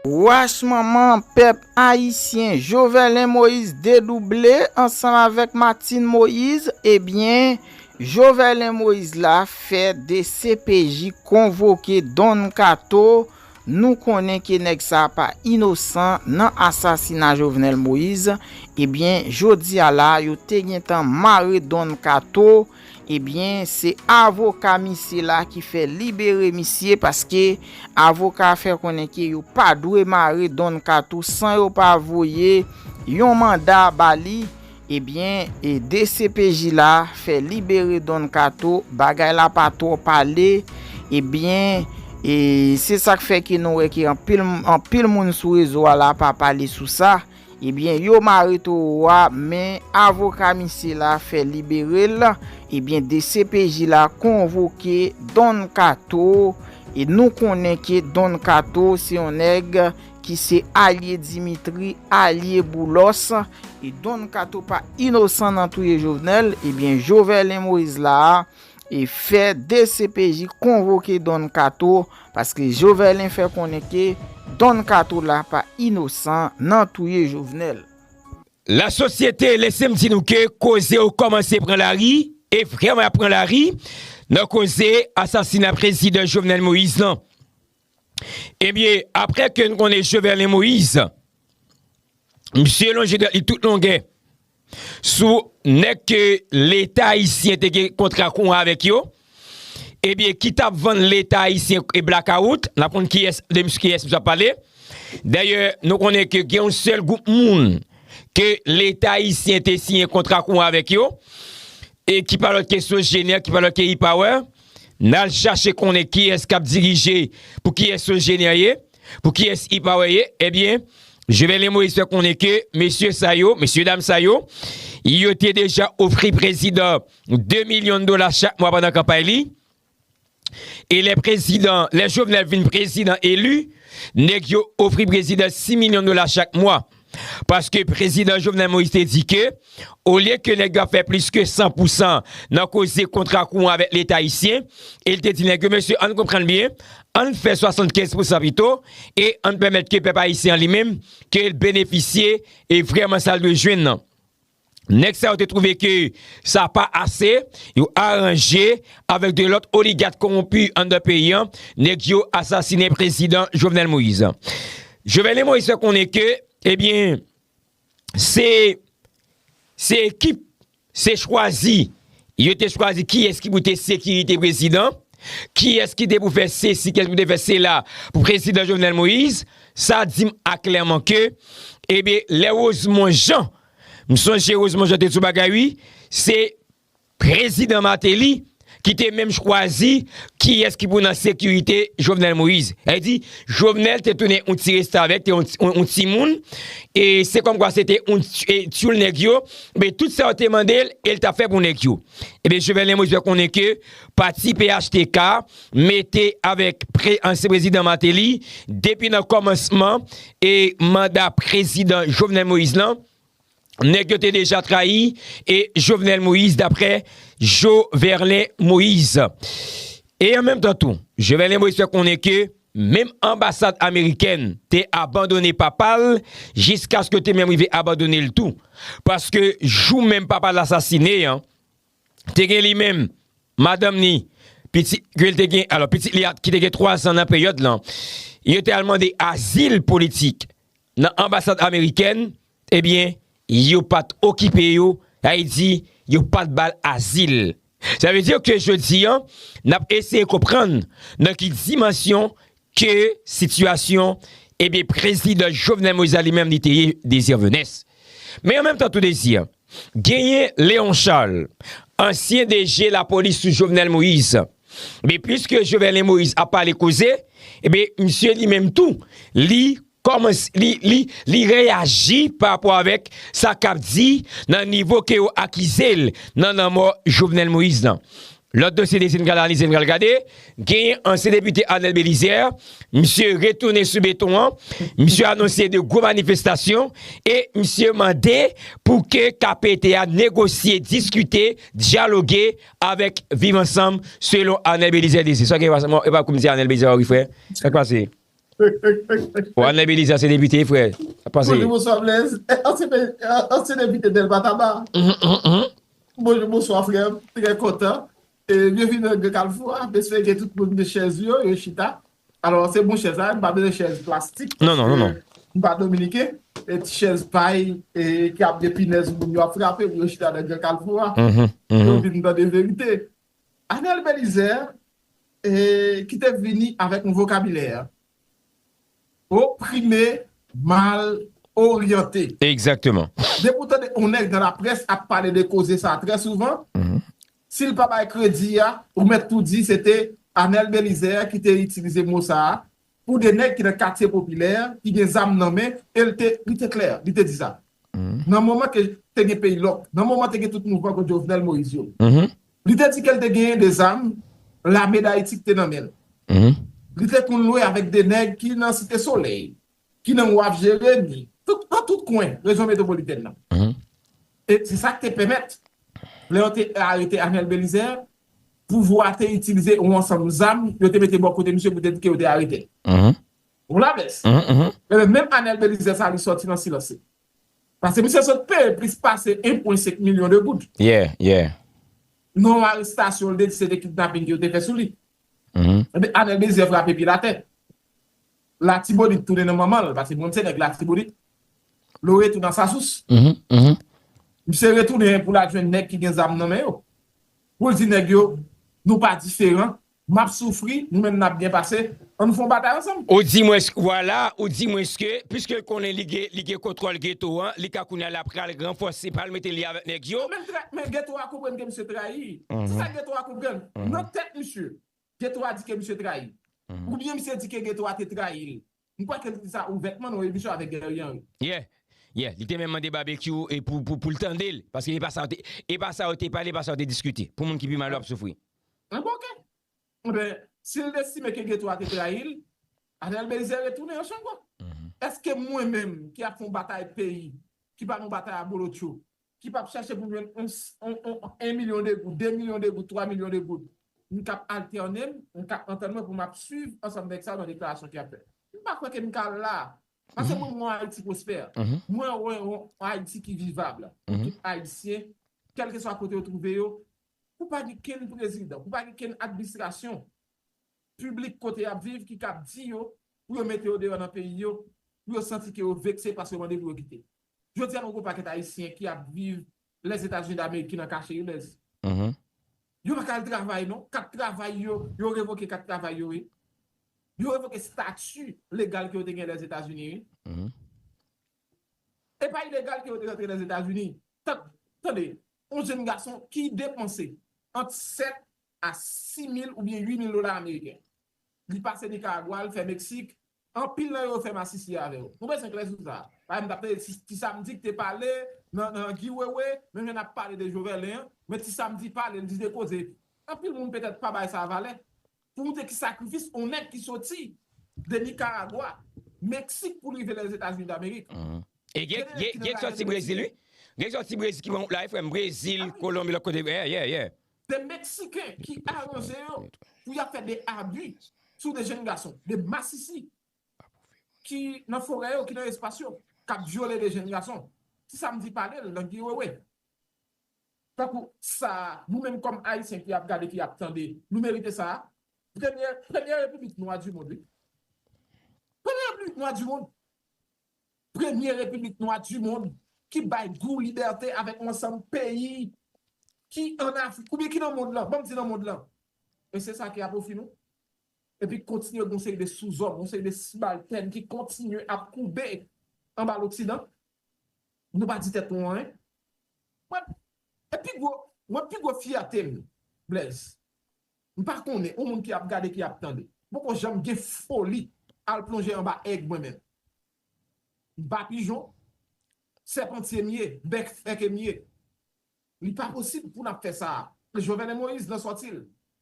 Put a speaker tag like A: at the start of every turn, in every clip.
A: Wach manman pèp ayisyen Jovelen Moyiz dedouble ansanm avèk Matin Moyiz ebyen Jovelen Moyiz la fè dcpj konvoke Don Kato nou konnen ke nèg sa pa inosan nan asasina Jovenel Moyiz ebyen jodia la yo te gentan mare Don Kato Ebyen se avoka misye la ki fè libere misye paske avoka a fè konnen ke yo pa dwe mare Don Kato san yo pa voye yon manda ba li, ebyen dcpj la fè libere Don Kato bagay la pa twò pale ebyen se sak fè ke nou wè ke anpil moun sou rezo a la pa pale sou sa. Ebyen yo mare towo a men avoka misye la fè libere l ebyen dcpj la konvoke Don Kato e nou konnen ke Don Kato se yon nèg ki se alye Dimitri alye Boulos e Don Kato pa inosan nan touye Jovenel ebyen Joverlin Moïse la e fè dcpj konvoke Don Kato paske Joverlin fè konnen ke Don Kato la pa inosan nan touye Jovenel. La
B: sosyete lese m di nou ke koze yo kòmanse pran lari, e vrèman y ap pran lari, nan koze asasina prezidan Jovenel Moïse lan. Ebyen, aprè ke n konnen Joverlin Moïse, misye lonje dwèt li tout longè sou nèg ke leta ayisyen te gen kontra kou avèk yo, ebyen ki t ap vann leta ayisyen blakawout, n ap konn de kiyès misye ap pale. Dayè, nou konnen ke gen yon sèl gwoup moun ke leta ayisyen te siyen kontra kou avèk yo, e ki pa lòt ke Sogener, ki pa lòt ke E-Power. N al chache konnen kiyès k ap dirije, pou kiyès yon jeni an ye, pou kiyès Ipawè ye. Ebyen, Jovenel Moïse fè konnen ke mesye sa yo, mesye dam sa yo, yo te deja ofri prezidan 2 milyon dola chak mwa pandan kanpay li. E lè prezidan, lè Jovenel vin prezidan eli, nèg yo ofri prezidan 6 milyon dola chak mwa. Paske Prezidan Jovenel Moïse te di ke olye ke nèg yo ap fè plis ke 100 pou 100 nan koze kontra kouran avèk Leta Ayisyen, e li te di nèg yo, mesye ann konprann byen, ann fè 75 pou 100 pito, e ann pèmèt ke pèp Ayisyen an li menm, ke l benefisye e vrèman sa l dwe jwenn nan. Nèg sa yo te twouve ke sa pa ase, yo aranje avèk 2 lòt oligat konwonpi anndan peyi an, nèg yo asasinen prezidan Jovenel Moïse. Jovenel Moïse fè konnen ke, ebyen, se, se ekip, se chwazi, yo te chwazi kiyès ki pou te sekirite prezidan, kiyès ki te pou fè sesi, kiyès ki pou te fè sela pou prezidan Jovenel Moïse, sa di m aklèman ke, ebyen, lè Rosemond Jean, M sonje Rosemond Jean te di yon bagay wi, se Prezidan Martelly ki te menm chwazi kiyès ki pou nan sekirite Jovenel Moïse. Sa vle di, Jovenel te tounen yon ti restavèk, te yon ti moun, e se kòm kwa se te yon tyoul nèg yo, men tout sa yo te mande l, e l t ap fè pou nèg yo. Ebyen Jovenel Moïse fè konnen ke pati phtk, mete avèk pre ansyen prezidan Martelly depi nan kòmansman e manda prezidan Jovenel Moïse lan, nèg yo te deja trayi e Jovenel Moïse daprè Jo Verlen Moïse. E an menm tan tou, Jo Verlen Moïse fè konnen ke menm anbasad amerikèn te abandone papa l jiskaske yo te menm rive abandone l tou. Paske jou menm papa l asasine an, te gen li menm, madanm ni, pitit ke li te gen, alò pitit li a ki te gen 3 zan nan peryòd lan, yo te al mande azil politik nan anbasad amerikèn, ebyen yo pat okipe yo, sa vle di yo pat ba l azil. Sa vle di ke jodi an, n ap eseye konprann nan ki dimansyon Ke sitiyasyon, ebyen prezidan Jovenel Moïse la li menm li te ye Désir Venès. Men an menm tan tou Désir, genyen Léon Charles, ansyen DG lapolis sou Jovenel Moïse. Men pliske Joverlein Moïse ap pale koze, ebyen misye li menm tou li Kòman li reyaji pa rapò avèk sa k ap di nan nivo ke yo akize l nan lanmò Jovenel Moïse lan? Lòt dosye desi n pral analize, n pral gade, genyen ansyen depite Arnel Belizaire, misye retounen sou beton an, misye anonse 2 gwo manifestasyon e misye mande pou ke KPT a negosye, diskite, dyaloge avèk Viv Ansanm selon Arnel Belizaire desi. Sa w gen pou di a sa? Epa w ap kou m di Arnel Belizaire ori frè? Sa k pase? Wanlè Belize ansyen depite frè, sa pase. Bonjou bonswa Blaise,
C: ansyen depite Delma Taba. Bonjou bonswa frè m, trè kontan. Byenvini nan gran kalfou a, m espere ke tout moun gen chèz yo, yo chita. Alò se bon chèz a, m pa bezwen chèz plastik paske m
B: pa dominiken.
C: Ti chèz pay ki ap gen pinèz moun yo ap frape pou yo chita nan gran kalfou a pou yo vin tande verite. Anel Belizaire ki te vini avèk yon vokabilè oprime, mal oryante. Egzakteman.
B: Depi w tande yon
C: nèg nan laprès ap pale de koze sa trè souvan, si l pa bay kredi a, ou mèt tou di se te Anel Belizaire ki te itilize mo sa Pou 2 nèg ki nan katye popilè, ki gen zam nan men, e l te, li te klè, li te di sa. Nan moman ke te gen peyi lòk, nan moman te gen tout mouvman kont Jovenel Moïse yo. Li te di ke l te genyen 2 zam, lame Dayiti ki te nan men l. Li te konn lwe avèk 2 nèg ki nan Site Solèy, ki nan Waf Jeremi, tout, nan tout kwen rejyon metwopolitèn nan. E se sa ki te pèmèt, lè yo te arete Arnel Bélizaire, pouvwa a te itilize yon ansanm zam yo te mete bò kote misye poutèt ke yo te arete l. Ou la bès? Enben, menm Anel Belizè sa a li sòti nan silans li. Paske misye sot peye plis pase 1 pwen 5 milyon de goud.
B: Non
C: yon arestasyon l te di se te kidnaping ke yo te fè sou li. Enben, Anel Belizè frape pye l atè. Latibonit tounen nan manman l paske mwen m se nèg latibonit Lore tou nan sasous misye retounen pou l al jwenn nèg ki gen zam nan men yo pou l di nèg yo nou pa diferan m ap soufri nou menm n ap byen pase an nou fè yon batay ansanm. Ou di mwen vwala
B: ou di mwen ske piske l konnen li gen li gen kontwòl geto an li ka kounye a l ap pral ranfòse pa l mete li avèk nèg yo. Menm trèt men geto a
C: konprann ke misye trayi se sa geto a konprann nan tèt misye Getho a di ke misye trayi. Ou byen misye di ke Getho a te trayi l. M kwè ke li di sa ouvètman nan yon emisyon avèk Guerrier Henry. Yeah. Yeah.
B: Li te menm mande Barbecue e pou, pou, pou l tande l. Paske e pa sa yo te, e pa sa yo te pale, e pa sa yo te diskite. Pou moun ki pi mal yo ap soufri. Ah bon ok. Enben,
C: si l estime ke Getho a te trayi l, Arnel Belizaire retounen yon chango. Eske mwen menm ki ap fè yon batay peyi, ki pa nan yon batay abolotcho, ki pap chache pou m jwenn yon 1 milyon de goud, 2 milyon de goud, 3 milyon de goud, m k ap altène m, m k ap antann mwen pou m ap swiv ansanm nèg sa yo nan deklarasyon ke y ap fè. M pa kwè ke m ka la a. Paske mwen wè yon Ayiti pwospè. Mwen wè yon Ayiti ki vivab pou tout Ayisyen, kèlkeswa kote yo twouve yo, pou pa gen kenn prezidan, pou pa gen kenn adminstrasyon piblik kote y ap viv ki kab di yo pou yo mete yo deyò nan peyi yo, pou yo santi ke yo vekse paske yo mande pou yo kite. Jodi a nou gen yon pakèt Ayisyen ki ap viv Lèzetazini Dameriki nan kache wi Lèz. Yo pa ka al travay non. Kat travay yo, yo revoke kat travay yo wi. Yo revoke stati legal ke yo te gen Lèzetazini wi. E pa ilegal ke yo te rantre Lèzetazini. Tande, yon jenn gason ki depanse ant 7 a 6 mil oubyen 8 mil dola ameriken. Li pase Nikaragwa, li fè Meksik, Anpil nan yo fè masisi avè w. Ou bezwen klè sou sa? Padan m t ap tande Ti Samdi k te pale nan Guy Wewe, menm jan n ap pale de Joverlin an, men Ti Samdi pale, l di de koze. Anpil moun petèt pa bay sa valè. Pou w montre ki sakrifis yon nèg ki soti de Nikaragwa, Meksik pou l rive Lèzetazini Damerik. E gen ki nan rayi Lèzetazini.
B: Gen ki soti Brezil wi. Gen ki soti Brezil ki pran wout la wi frè m. Brezil, Kolonbi, lòt kote. Yeah, yeah, yeah. De Meksiken
C: ki aranje yo pou y ap fè de abi sou de jenn gason. De masisi ki nan forè yo, ki nan espas yo, k ap vyole de jenn gason. Ti sa m di pale l nan gi wewe. Tankou sa a, nou menm kòm Ayisyen ki ap gade, ki ap tande, nou merite sa a. Premye, premye repiblik nwa di mond wi. Premye repiblik nwa di mond. premye repiblik nwa di mond ki bay gou libète avèk yon ansanm peyi ki an Afrik oubyen ki nan mond lan, banm di nan mond lan, e se sa ki a pwofi nou. Epi kontinye gen yon seri de souzòm, yon seri de sibaltèn ki kontinye ap koube anba loksidan, nou pa di tèt nou anyen. Mwen, e pi gwo, mwen pi gwo fyète m, Blaise, M pa konnen ou moun ki ap gade ki ap tande. M poko janm gen foli al plonje anba èg mwen menm. M pa pijon, sèpantye m ye, bèk fèke m ye. Li pa posib pou n ap fè sa a. Jovenel Moïse nan sòti l,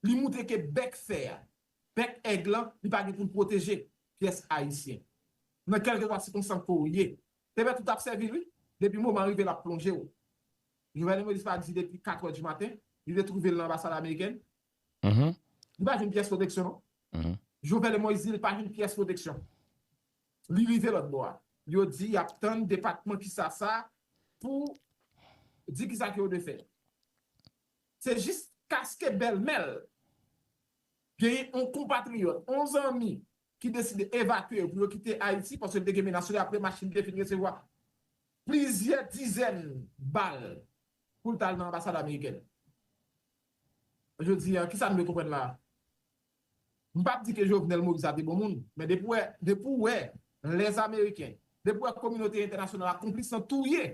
C: li moutre ke bèk fè a, bèk èg lan, li pa gen pou l pwoteje pyès Ayisyen. Nan kèlkeswa sikonstans ke w ye, te bèt ou t ap sèvi l wi, depi moman an rive l ap plonje w. Jovenel Moïse pa di depi 4 heures du matin li te trouvel nan anbasad amerikèn li pa jwenn pyès pwoteksyon non Jovenel Moïse di li pa jwenn pyès pwoteksyon li rive lòt bò a yo di yap tann depatman kisa sa pou di kisa ke yo dwe fè se jis kaske bèlmèl genyen on konpatriyòt on zanmi ki deside evakye yo pou yo kite Ayiti paske li te gen menas sou li apre machin te fin resevwa plizyè dizèn bal pou l t al nan anbasad amerikèn. Jodi a, kisa nou dwe konprann la a? M p ap di ke Jovenel Moïse la te bon moun, men depi w wè, depi w wè lèzameriken, depi w wè kominote entènasyonal la konplis nan touye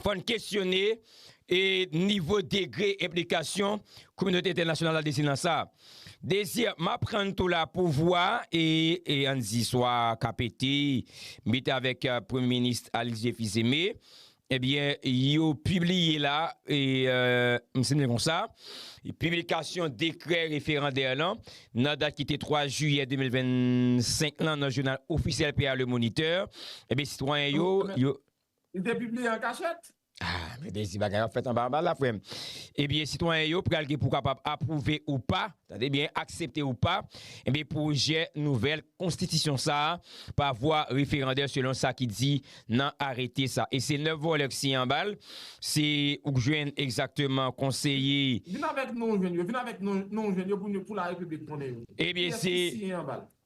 B: fò n kesyone nivo degre enplikasyon kominote entènasyonal la desi nan sa. Deziyèm, m aprann tou la pouvwa e, an n di, swa KPT, mit avèk Premye Minis Alix J. Fils-Aimé, ebyen, yo pibliye la, m sinnen kon sa, piblikasyon dekrè referandè lan nan dat ki te 3 jiyè 2025 lan nan jounal ofisyèl peyi a Le Moniteur, ebyen sitwayen yo. Li te pibliye
C: an kachèt? Ah men Dezi
B: bagay wap fèt anba anba la frèm. Ebyen sitwayen yo pral gen pou kapab apwouve ou pa, tande byen aksepte ou pa, ebyen pwojè nouvèl konstitisyon sa a pa vwa referandè selon sa ki di nan arete sa. E se 9 vòlè k siyen anba l, se ou k jwenn egzakteman konseye. Vin avèk non w jwenn
C: yo, vin avèk non w jwenn yo pou laRepiblik konnen yo. Ebyen Kiyès se ki siyen
B: anba l?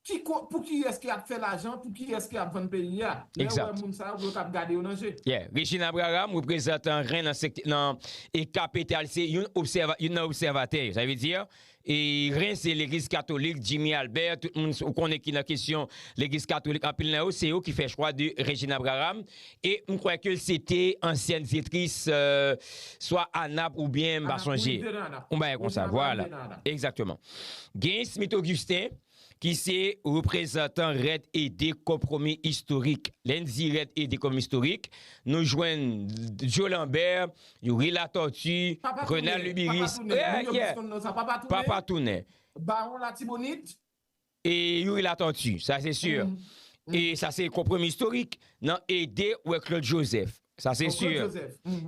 C: Ki ko, pou kiyès ki ap fè lajan, pou kiyès ki ap vann peyi a. Lè yo wè moun sa yo,
B: pou yo kab gade yo nan je. Yeah. Regine Abraham, reprezantan ren nan sekt, nan Eka Petal se youn obsèva, youn nan obsèvatè yo. Sa vle di, e ren se legliz katolik, Jimmy Albert, tout moun ou konnen ki nan kesyon legliz katolik, anpil nan yo se yo ki fè chwa de Regine Abraham. E m kwè ke se te ansyèn dyetris swa Anap oubyen m pa sonje. Yon bagay konsa. Vwala. Egzakteman. Genyen Smith Augustin ki se reprezantan rèd ede konpwomi istorik. Lè n di rèd ede konpwomi istorik, nou jwenn Joe Lambert, Youri Latortue, Renald Lubiris. Papa Tounen. Papa Tounen. Baron Latibonit.
C: E Youri
B: Latortue, sa se sûr. E sa se konprom istorik nan ede wè Claude Joseph. Sa se sûr.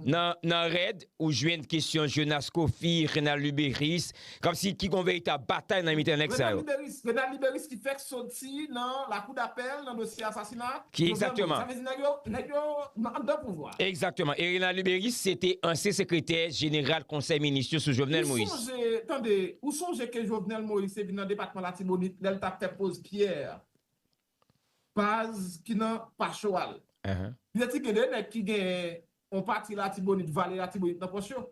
B: Nan rèd, ou jwenn kesyon Jonas Coffy, Renald Luberice, kom si ki gon veritab batay nan mitan nèg sa yo. Renald
C: Luberice ki fèk soti nan lakou dapèl nan dosye asasina a. Ki egzakteman?
B: Sa vle di nèg
C: yo, nèg yo nan anndan pouvwa a. Egzakteman. E Renald
B: Luberice se te ansyen sekretè jeneral konsèy minis yo sou Jovenel Moïse. Ou sonje, tande, ou
C: sonje ke Jovenel Moïse te vin nan depatman Latibonit lè l t ap fè poz pyè baz ki nan Pacho a l. Li te di gen de nèg ki gen yon pati Latibonit, vale Latibonit nan pòch yo.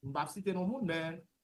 C: M pa p site non moun men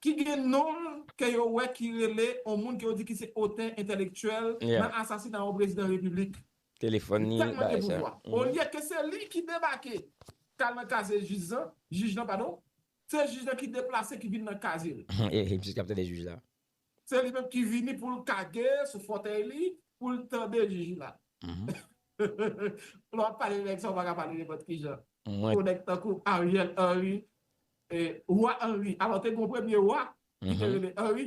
C: ki gen non l ke yo wè ki rele on moun ke yo di ki se otè entèlektyèl nan asasina on prezidan repiblik. Li tèlman gen
B: pouvwa,
C: olye ke se li ki debake k al nan kaze jij lan, se jij lan ki deplase ki vin nan kaze l.
B: Se li menm ki
C: vini pou l kage sou fòtèy li pou l tande jiji la. Lè w ap pale de nèg sa a, ou pa ka pale nenpòt ki jan. Yon nèg tankou Ariel Henry, Wa Henry. Alò te gen yon premye wa ki te rele Henry.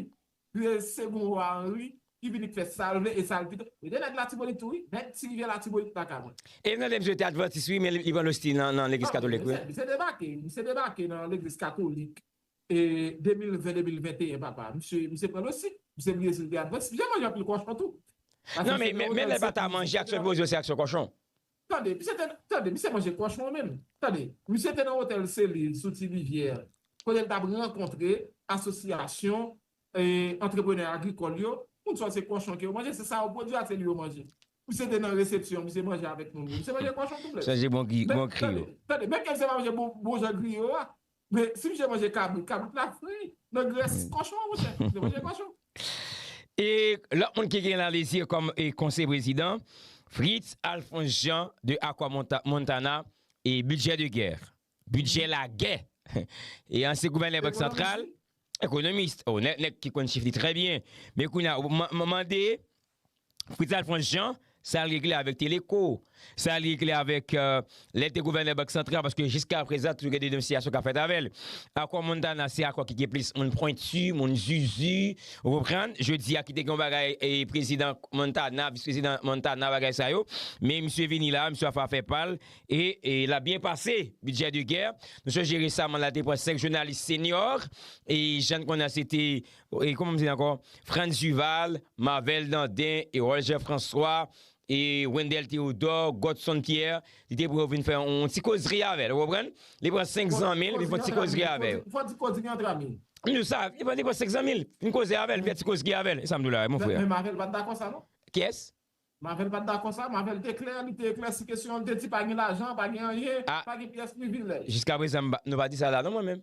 C: Li te segon wa Henry ki vini fè sa l vle e sa l pito. Li te nèg Latibonit tou wi. Nèg ti rivyè Latibonit la ka mwen. E m tande msye te advantis
B: wi men li pran losti nan legliz katolik wi. Msye
C: debake nan legliz katolik. 2020 2021 papa misye misye pran losi misye bliye sil te ap vann si misye manje anpil kòchon tou nan men
B: men lè bata manje ak swen poze se ak swen kòchon. Tande misye te
C: tande misye manje kòchon menm tande misye te nan otèl selil sou ti rivyè kote l tap rankontre asosyasyon antreprenè agrikòl yo moun sa yo se kòchon ke yo manje se sa yo pwodwi ak seli yo manje misye te nan resepsyon misye manje avèk moun yo misye manje kòchon tou blèd sonje bon kri bon kri
B: yo tande menm ke
C: misye pa manje bon jan griyo a Men si misye manje kabrit,
B: kabrit la fri nan grès kòchon monchè. Misye manje kòchon. E lòt moun ki gen lan lezi kòm e konseye prezidan, Fritz Alphonse Jean de Aqua Montana e budget de guerre, bidjè lagè, e ansyen gouvènè bank santral. Economist, oh nèg nèg ki konn chif li trè byen. Men kounya ou mande Fritz Alphonse Jean sa l regle avèk Teleco, sa l regle avèk lè l te gouvènè Bank Santral paske jiska prezan toujou gen denonsiyasyon k ap fèt avè l. Akò Montana se akò ki gen plis moun pwentu, moun zuzu, ou konprann, jodi a ki te gen yon bagay prezidan Montana, vis prezidan Montana bagay sa yo, men misye vini la a misye ap fè afè pa l, E l ap byen pase, bidjè de gè. Nou sonje resaman la te pran 5 jounalis senyòr, e jan n konnen an se te, e kouman m di l ankò, Frantz Duval, Marvel Dandin, Erol Jean François, e Wendel Theodore, Godson Pierre, li te pran yo vin fè yon ti kozri avè l, ou konprann? Li pran 5 zanmi l, vin fè yon ti kozri avè yo. Fò di kozri antre
C: ami. Nou sa, li pran 5
B: zanmi l, vin koze avè l, vin fè ti kozri avè l. E sa m di w la a, mon frè? Men Marvel pa t dakò sa
C: non. Kiyès?
B: Marvel pat dakò
C: sa, Marvel te klè, li te eklèsi kesyon an, li te di pa gen lajan, pa gen anyen, pa gen pyès privilèj. Jiska prezan m pa, nou pa
B: di sa la non mwen menm.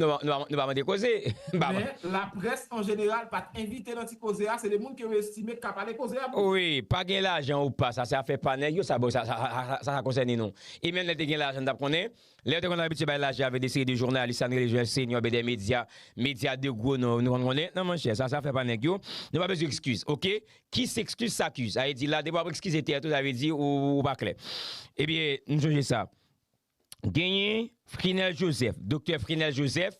B: Nou pa mande koze. Men,
C: laprès an jeneral pat envite nan ti koze a, se de moun ke yo estime k ka pale koze a plis. Wi, pa gen
B: lajan ou pa, sa se afè pa nèg yo, sa bon, sa sa konsène nou. E menm lè te gen lajan n tap konnen, lè yo te konn abitye bay lajan avèk de seri de jounalis sa n rele jounalis senyo oubyen dè medya, medya de gwo non, nou konn konnen, non monchè, sa se afè pa nèg yo, nou pa bezwen ekskiz, ok. Ki s'excuse s'accuse? Sa vle di la depi wap ekskize tèt ou sa vle di ou pa klè. Ebyen m sonje sa. Genyen Frinel Joseph, Doktè Frinel Joseph,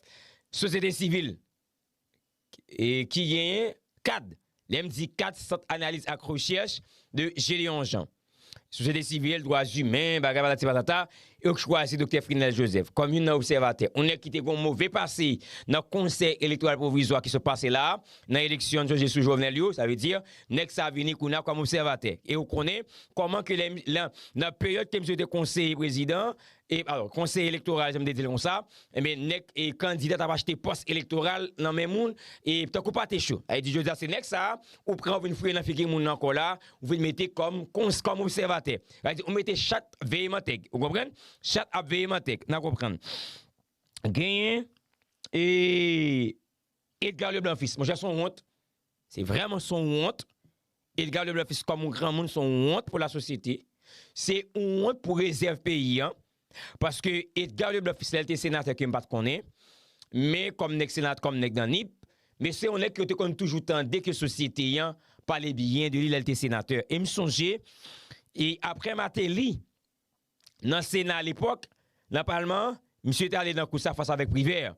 B: sosyete sivil e ki genyen kad. Lè m di kad, Sant Analiz ak Rechèch de Gédéon Jean. sosyete sivil, dwa zimen, bagay patati patata, yo chwazi Doktè Frinel Joseph kòm youn nan obsèvatè, on nèg ki te gon move pase nan Konsèy Elektoral Pwovizwa ki sot pase la a, nan eleksyon José sou Jovenel yo, sa vle di, nèg sa a vini kounye a kòm obsèvatè. E ou konnen kòman ke lè nan peryòd ke misye te konseye prezidan, E alò, konsèy elektoral, jan m te di l konsa, enben nèg e kandida t ap achte pòs elektoral nan men moun e tankou pate cho. A e di jodi a se nèg sa a ou pran ou vin fouye nan figi moun nan ankò la, ou vin mete kòm kons kòm obsèvatè. A e di ou mete chat veye mantèg. Ou konprann? Chat ap veye mantèg. N a konprann. Genyen e Edgar Leblanc Fils. Monchè s on wont. Se vrèman son wont, Edgar le Blanfis kòm yon granmoun son wont pou la sosyete, se yon wont pou rezèv peyi an, paske Edgar le Blanfis lè l te senatè ke m pat konnen, men kòm nèg senat kòm nèg nan nip, men se yon nèg ke yo te konn toujou tande ke sosyete an pale byen de li lè l te senatè. E m sonje e aprè Mateli nan sena alepòk, nan palman an, misye te ale nan kous la fas avèk Privert.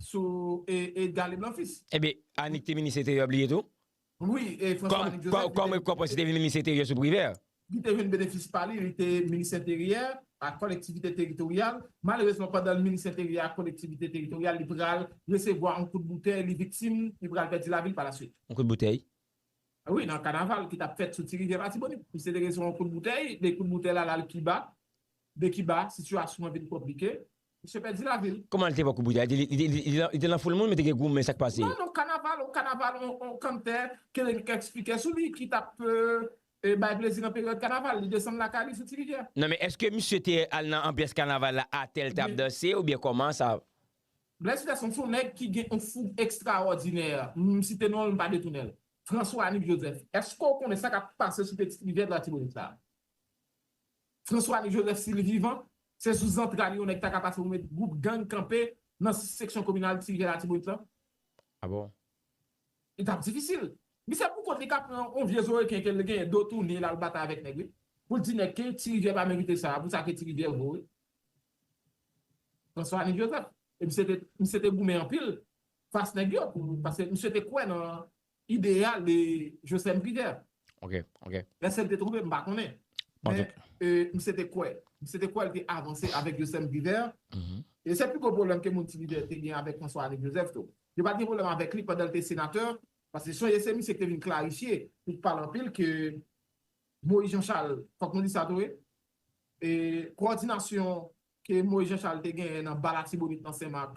C: Sou e Galib lan fils. Ebyen Anik te
B: minis enteryè bliye tou? Wi e
C: François Anik Joseph. Kòm e kòpòs li te vin minis
B: enteryè sou Privert. Li te vin benefis
C: pa li, li te minis enteryè ak kolektivite teritoryal. Malerezman pandan l minis enteryè ak kolektivite teritoryal li pral resevwa on kout boutèy, li viktim, li pral pèdi lavi l pa la swit. On kout boutèy?
B: Wi nan
C: kanaval ki tap fèt sou ti rivyè latibonit. Li se te resevwa on kout boutèy, de kout boutèy la lal Kiba. De Kiba, sitiyasyon an vin konplike. Misye pèdi lavi l. Kòman li te wè kout boutèy
B: la? Li te lan foul moun men te gen gwo men, sa k pase? Non, non, kanaval, yon
C: kanaval, yon kanntè ke li eksplike sou li ki t ap bay plezi nan peryòd kanaval. Li desann lakay li sou ti rivyè. Non men èske misye
B: te al nan anbyans kanaval la atè li t ap danse oubyen kòman sa? Blaise Peterson
C: se yon nèg ki gen yon foug ekstrawòdinè. M site non l, m pa detounen l. François Anik Joseph, èske w konnen sa k ap pase sou pitit rivyè Latibonit la? François ni Joseph si li vivan, se sou zantray li yon nèg ta ka pase pou met gwoup gang kanpe nan seksyon kominal ti rivyè latibonit lan. A bon?
B: Li t ap
C: difisil. Li se pou kont li ka pran yon vye zo reken ke li genyen do tounen la l batay avèk nèg wi. Pou l di nèg ke ti rivyè pa merite sa a pou sa ke ti rivyè vo wi. François ni Joseph. E misye te goumen anpil fas nèg yo. Paske misye te kwè nan ideyal de Joslèn Privè. Ok, ok.
B: Èske l te twonpe,
C: m pa konnen. Men, m se te kwè. M se te kwè l te avanse avèk Joslèn Privè. E se pi gwo pwoblèm ke moun Ti Privè te gen avèk François René Joseph tou. Yo pa t gen pwoblèm avèk li pandan l te senatè, paske sonje se misye ki te vin klarifye, li t pale anpil ke Moïse Jean Charles, fòk nou di sa tou wi, kowòdinasyon ke Moïse Jean Charles te genyen nan ba Latibonit nan Sen Mak,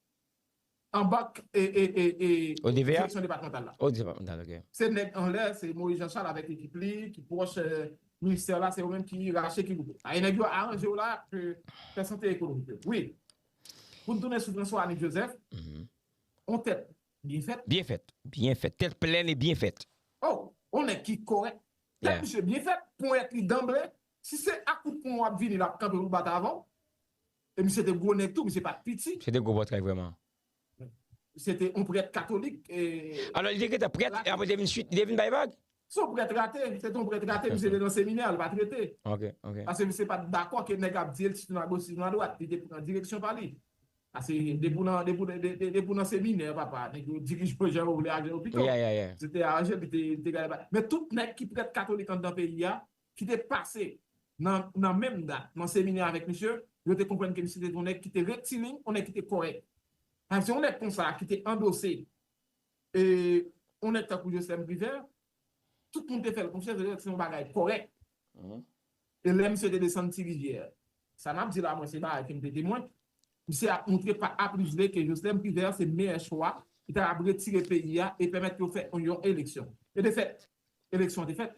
C: Anba direksyon
B: depatmantal la. Oh
C: depatmantal ok. Se
B: nèg anlè, se
C: Moïse Jean Charles avèk ekip li ki pwòch ministè la, se yo menm ki rache ki boule. Aye nèg yo aranje yo la ke fè sante ekonomik yo. Wi. Pou n tounen sou François Annick Joseph, on tèt byen fèt. Byen fèt. Byen fèt. Tèt
B: plèn e byen fèt. Oh! On nèg
C: ki kòrèk. Tèt misye byen fèt,
B: ponyèt
C: li danble. Si se ak kout pwen w ap vini l ap kanpe pou bat avè w. E misye te gwo nèg tou, misye pat piti. Se te gwo pòtre vrèman.
B: Se
C: te yon prèt katolik e. Alò li te gentan prèt
B: e apre li te vin sweet, li te vin bay vag? Se yon prèt rate,
C: se te yon prèt rate, misye te nan seminè, li pat rete. Ok, ok. Pase misye
B: pat
C: dakò ke nèg ap di l sinon a goch sinon a dwat, li te pran direksyon pa li. Pase depi w nan, depi w nan, depi w nan seminè papa, nèg yo dirije w jan yo vle ak jan yo pito. Yeah, yeah, yeah. Misye te aranje
B: l, li te,
C: li te gade bagay. Men tout nèg ki prèt katolik anndan peyi a, ki te pase nan nan menm dat nan seminè avèk misye, yo te konprann ke misye te yon nèg ki te rektilin, yon nèg ki te kòrèk. Paske yon nèg konsa ki te andose e yon nèg tankou Joslèm Privert, tout moun te fè l konfyans, se te yon bagay kòrèk. E lè misye te desann Ti Rivyè, sa m ap di la mwen se bagay ke m te temwen, misye ap montre pa A plis B ke Joslèm Privert se meyè chwa ki ta kab retire peyi a e pèmèt yo fè yon eleksyon. E de fèt, eleksyon an te fèt.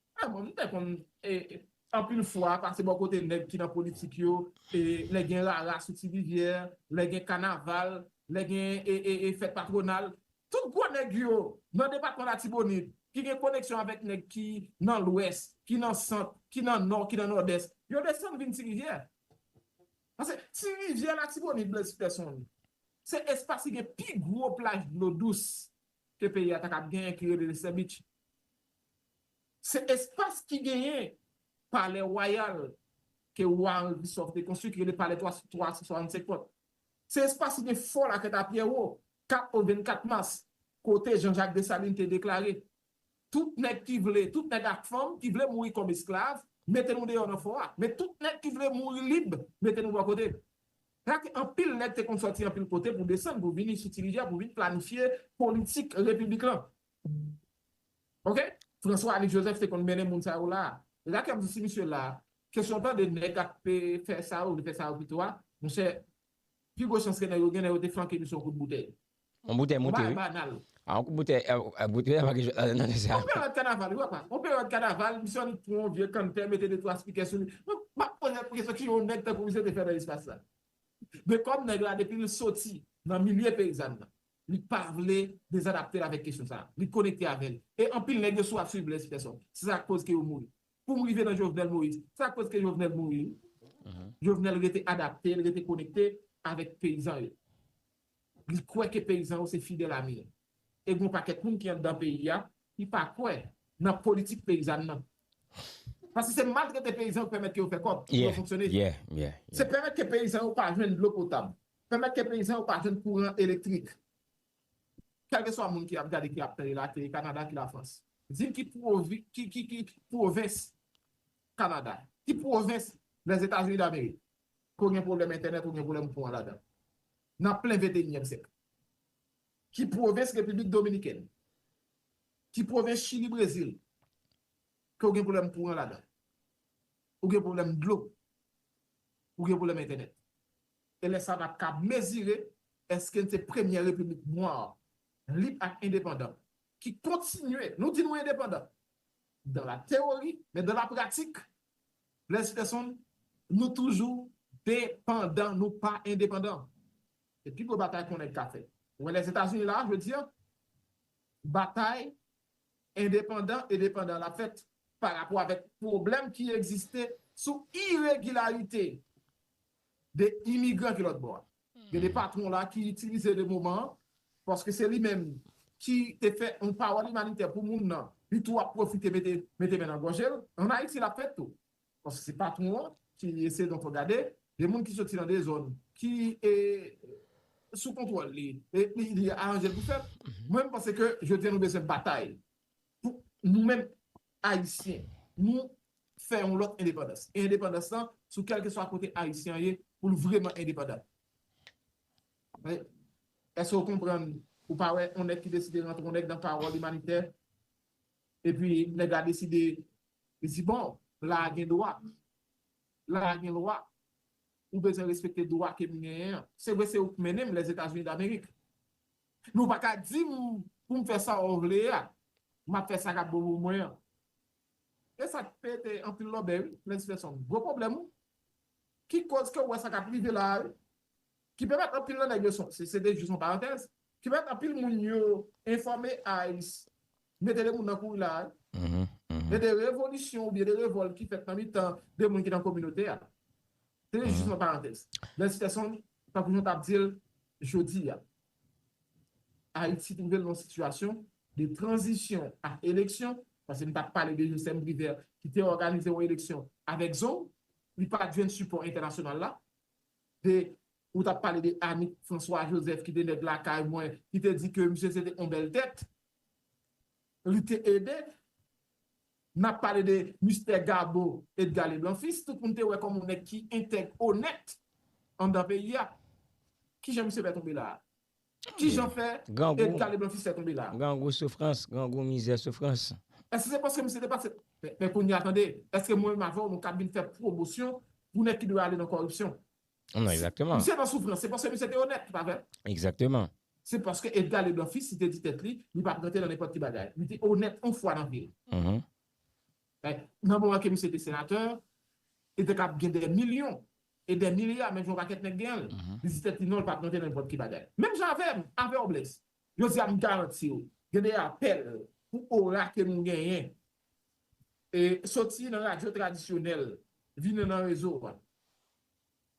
C: Mwen menm m te konn anpil fwa pase bò kote nèg ki nan politik yo lè gen rara sou ti rivyè, lè gen kanaval, lè gen fèt patwonal. Tout gwo nèg yo nan depatman Latibonit ki gen koneksyon avèk nèg ki nan lwès, ki nan sant, ki nan nò, ki nan nòdès, yo desann vin ti rivyè. Pase ti rivyè Latibonit Blaise Peterson se espas ki gen pi gwo plaj dlo dous ke peyi a ta kab genyen ki rele Lestèbitch. Se espas ki genyen palè wayal ke wa Henri Christophe te konstwi ki rele palè 365 pòt. Se espas ki gen fò Lakèt a Pyèwo, 4 ou 24 mas, kote Jean Jacques Dessalines te deklare, Tout nèg ki vle, tout nèg ak fanm ki vle mouri kòm esklav, mete nou deyò nan fò a, men tout nèg ki vle mouri lib, mete nou bò kote. Sa ke anpil nèg te konn sòti anpil kote pou desann, pou vini sou Ti Rivyè, pou vin planifye politik Repiblik lan. Ok François Alix Joseph te konn mennen moun sa yo la e sa ki ap di si misye la kesyon tande nèg ap fè sa yo li fè sa yo pito a monchè pi gwo chans ke nèg yo gen lè yo te flanke misye yon kout boutèy Yon boutèy moute
B: wi Yon bagay banal A yon kout
C: boutèy
B: A boutèy a pa gen jwèt la dandan mesye a Yon peryòd kanaval wi papa
C: Yon peryòd kanaval misye annik pran yon vye kanntè mete de twa spikè sou li m ap poze m kesyon ki yon nèg tankou misye te fè nan espas sa Dekonm nèg la depi l soti nan milye peyizàn nan Li pa vle dezadapte l avèk kesyon sa a. Li konekte avè l. E anpil nèg yo sou ap swiv Blaise Peson. Se sa k koz ke yo mouri. Pou m rive nan Jovenel Moïse. Se sa k koz ke Jovenel mouri wi. Jovenel rete adapte, li rete konekte avèk peyizan yo. Li kwè ke peyizan yo se fidèl ami l. E gen yon pakèt moun ki anndan peyi a ki pa kwè nan politik peyizàn nan. Paske se maltrete peyizan yo k pèmèt ke yo fè kòb, pou yo fonksyone. Se pèmèt ke peyizan yo pa jwenn dlo potab. Pèmèt ke peyizan yo pa jwenn kouran elektrik. Kèlkeswa moun ki ap gade, ki ap tande la, ke Kanada, ki Lafrans, di m ki pwovens Kanada, ki pwovens Lèzetazini Damerik ke w gen pwoblèm entènèt, ou gen pwoblèm kouran ladan, nan plen venteyinyèm syèk? Ki pwovens Repiblik Dominikèn, ki pwovens Chili, Brezil, ke w gen pwoblèm kouran ladan, ou gen pwoblèm dlo, ou gen pwoblèm entènèt? E lè sa n ap ka mezire èske n se premyè repiblik nwa, lib ak endepandan ki kontinye, nou di nou endepandan dan la teyori, men dan la pratik, Blaise Peterson, nou toujou depandan, nou pa endepandan. Se pi gwo batay konnèg ka fè. Ou wè Lèzetazini la a jodi a, batay endepandan e depandan l ap fèt parapò avèk pwoblèm ki egziste sou iregilarite. de imigran ki lòt bò a. Gen de patwon la ki itilize de moman an, paske se li menm ki te fè yon pawòl imanitè pou moun nan, li tou ap pwofite mete mete men nan gòje l. An Ayiti l ap fèt tou, paske se patwon an ki eseye donk gade de moun ki soti nan de zòn ki sou kontwòl li, li aranje l pou fèt. Mwen m panse ke jodi a nou bezwen batay. Pou nou menm Ayisyen, nou fè yon lòt endepandans. E endepandans lan, sou kèlkeswa kote Ayisyen an ye, pou l vreman endepandan. Èske ou konprann? Ou pa wè yon nèg ki deside rantre yon nèg nan pawòl imanitè, epi nèg la deside li di bon, la a gen dwa, la a gen lwa, ou bezwen respekte dwa ke m genyen an. Se vre se ou k mennen m Lèzetazini Damerik. Nou pa ka di m pou m fè sa w vle a, m ap fè sa k ap bon pou mwen an. E sa t pete anpil lòbèy wi, Lens Fèson. Gwo pwoblèm wi. Ki koz ke w wè sa k ap rive la a wi. Ki pèmèt anpil nan nèg yo, se te jis yon parantèz, ki pèmèt anpil moun yo enfòme ice, mete 2 moun nan kouri la a wi. E de revolisyon oubyen de revòlt ki fèt nan mitan 2 moun ki nan kominote a. Se te jis yon parantèz. Lens Fèson, Tankou nou tap dil jodi a, Ayiti trouvel nan yon sitiyasyon de tranzisyon ak eleksyon, paske nou tap pale de Josem Privert ki te òganize yon eleksyon avèk zong, li pat jwenn sipò entènasyonal la, de ou tap pale de Annick François Joseph ki te nèg lakay mwen, ki te di ke misye se te yon bèl tèt, li te ede N ap pale de Mistè Gabo Edga Leblan Fis, tout moun te wè kòm yon nèg ki entèg, onèt anndan peyi a. Ki jan misye fè tonbe la a? Ki jan fè Edga Leblan Fis fè tonbe la a? Grangou soufrans,
B: grangou mizè soufrans. Èske se paske misye
C: te pase? Men kounye a tande, èske mwen menm avè w nou kab vin fè pwomosyon pou nèg ki dwe ale nan kòripsyon? Non, exactement.
B: Misye nan soufrans, se paske
C: misye te onèt, pa vre? Exactement. Se paske Edgar Leblanc Fils li te di tèt li, li pap rantre nan nenpòt ki bagay. Li te onèt yon fwa nan vi l. Men, nan moman ke misye te senatè, li te kab gen dè milyon, e dè milya, menm jan yon pakèt nèg gen l. Li di tèt li non, li pap rantre nan nenpòt ki bagay. Menm jan avè m, avè w Blaise. Jodi a, m garanti w, gen de apèl pou ora ke nou genyen, e soti nan radyo tradisyonèl, vini nan rezo a.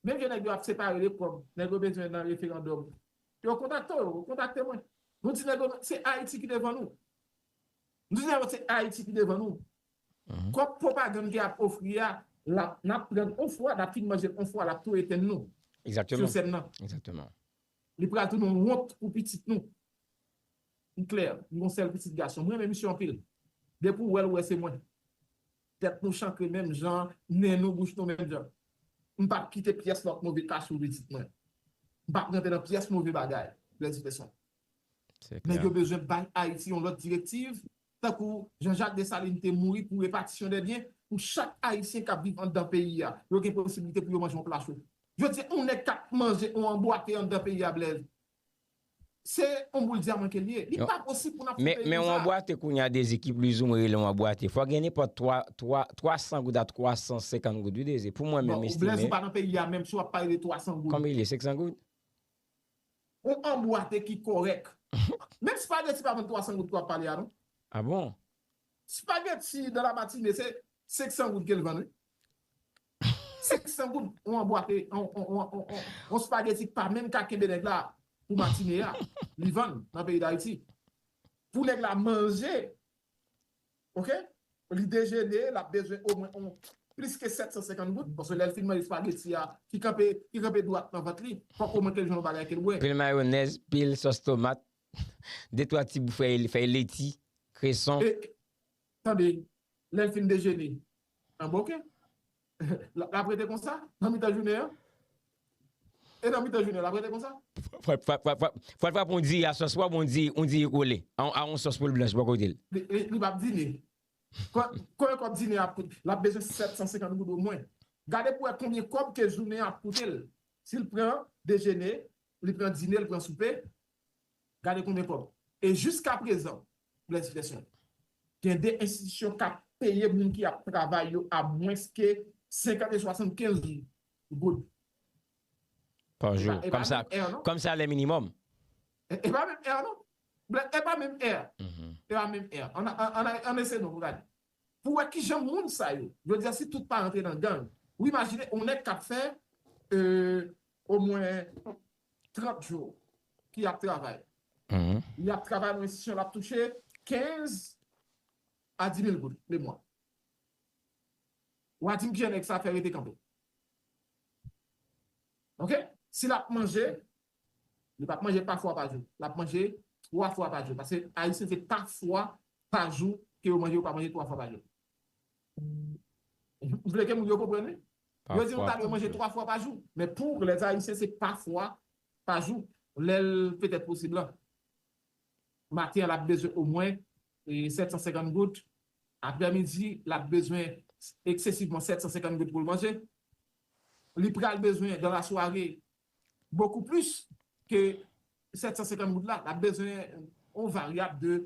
C: Menm jan nèg yo ap separe de kòb nèg yo bezwen nan referandòm yo kontakte yo, kontakte mwen. Nou di nèg yo se Ayiti ki devan nou. Nou di nèg yo se Ayiti ki devan nou. Kòb pwopagann ke ap ofri a lap nap pran l on fwa, nap fin manje l on fwa lap tou etenn nou sou sèn
B: nan. Li pral tounen
C: yon wont pou pitit nou. M klè, m gen yon sèl pitit gason. M renmen misye anpil. Depi w wè l ou wè se mwen. Tèt nou chantre menm jan, nen nou, bouch nou menm jan. M pap kite pyès lòt move ka sou pitit mwen. M pap rantre nan pyès move bagay, Blaise Peson. Nèg yo bezwen bay Ayiti yon lòt direktiv, tankou Jean Jacques Dessalines te mouri pou repatisyon dè byen, pou chak Ayisyen k ap viv anndan peyi a, yo gen posibilite pou yo manje yon pla cho. Jodi a yon nèg k ap manje yon anbwate anndan peyi a Blaise, Se yon boul dyaman ke li ye. Li pa posib pou nap foute yon sa. Men yon bwate
B: kounya Dezi ki pliz ou mwen rele yon bwate. Fwa gen nenpòt 3, 3, 300 goud a 350 goud wi Dezi. Pou mwen menm estime. Bon, Blèz ou pa nan peyi a
C: menm si wap pale de 300 goud. Konbyen li ye? 500 goud? Yon an bwate ki kòrèk. Menm spageti pa vann 300 goud ke wap pale a non. A bon?
B: Spageti
C: dan la matine se 500 goud kel vann wi. 500 goud on anbwa ke on spageti pa menm ka kenbe nèg la pou matine a li vann nan peyi dayiti pou nèg la manje ok li dejene lap bezwen omwen on plis ke 750 goud paske lèl fin manje spageti a ki kanpe ki kanpe dwat nan vant li fòk omwen kel jwenn on bagay kel bwè. Pil mayonèz pil
B: sòs tomat de twa ti bou fèy fèy leti kreson.
C: Tande, lè l fin dejene, anba ok, l ap rete konsa nan mitan jounen an? E nan mitan jounen an, l ap rete konsa?
B: Fwa l frap on diya sòs wòb, on diya kole, a on sòs poul blanch bò kote l. Li p ap dine.
C: Konbyen kòb dine an ap koute? L ap bezwen 750 goud omwen. Gade pou wè konbyen kòb ke jounen an ap koute l. Si l pran dejene, li pran dine, li pran soupe, Gade konbyen kòb. E jiska prezan, Blaise Flesson, gen de enstitisyon k ap peye moun ki ap travay yo a mwens ke 50 e 75 goud.
B: Pa jou. E pa menm èr non. Kòm salè minimòm. E pa
C: menm èr non. Blaise, e pa menm èr. E pa menm èr. Ann eseye non pou gade. Pou wè kijan moun sa yo, jodi a si tout pa rantre nan gang, ou imajine on nèg k ap fè omwen 30 jou ki ap travay li ap travay nan enstitisyon l ap touche 15 a 10 mil goud lemwa wa di m kijan nèg sa fè rete kanpe ok si l ap manje li pap manje pa fwa pa jou l ap manje 3 fwa pa jou paske ayisyen se pa fwa pa jou ke yo manje yo pa manje 3 fwa pa jou. M vle ke moun yo konprann wi. Yo di nou ta dwe manje 3 fwa pa jou. Men pou lèt ayisyen se pa fwa pa jou. Lè l petèt posib lan. Maten an l ap bezwen omwen 750 goud. Aprè midi l ap bezwen eksesivman 750 goud pou l manje. Li pral bezwen dan lasware Bokou plis ke 750 goud la, l ap bezwen yon varyab de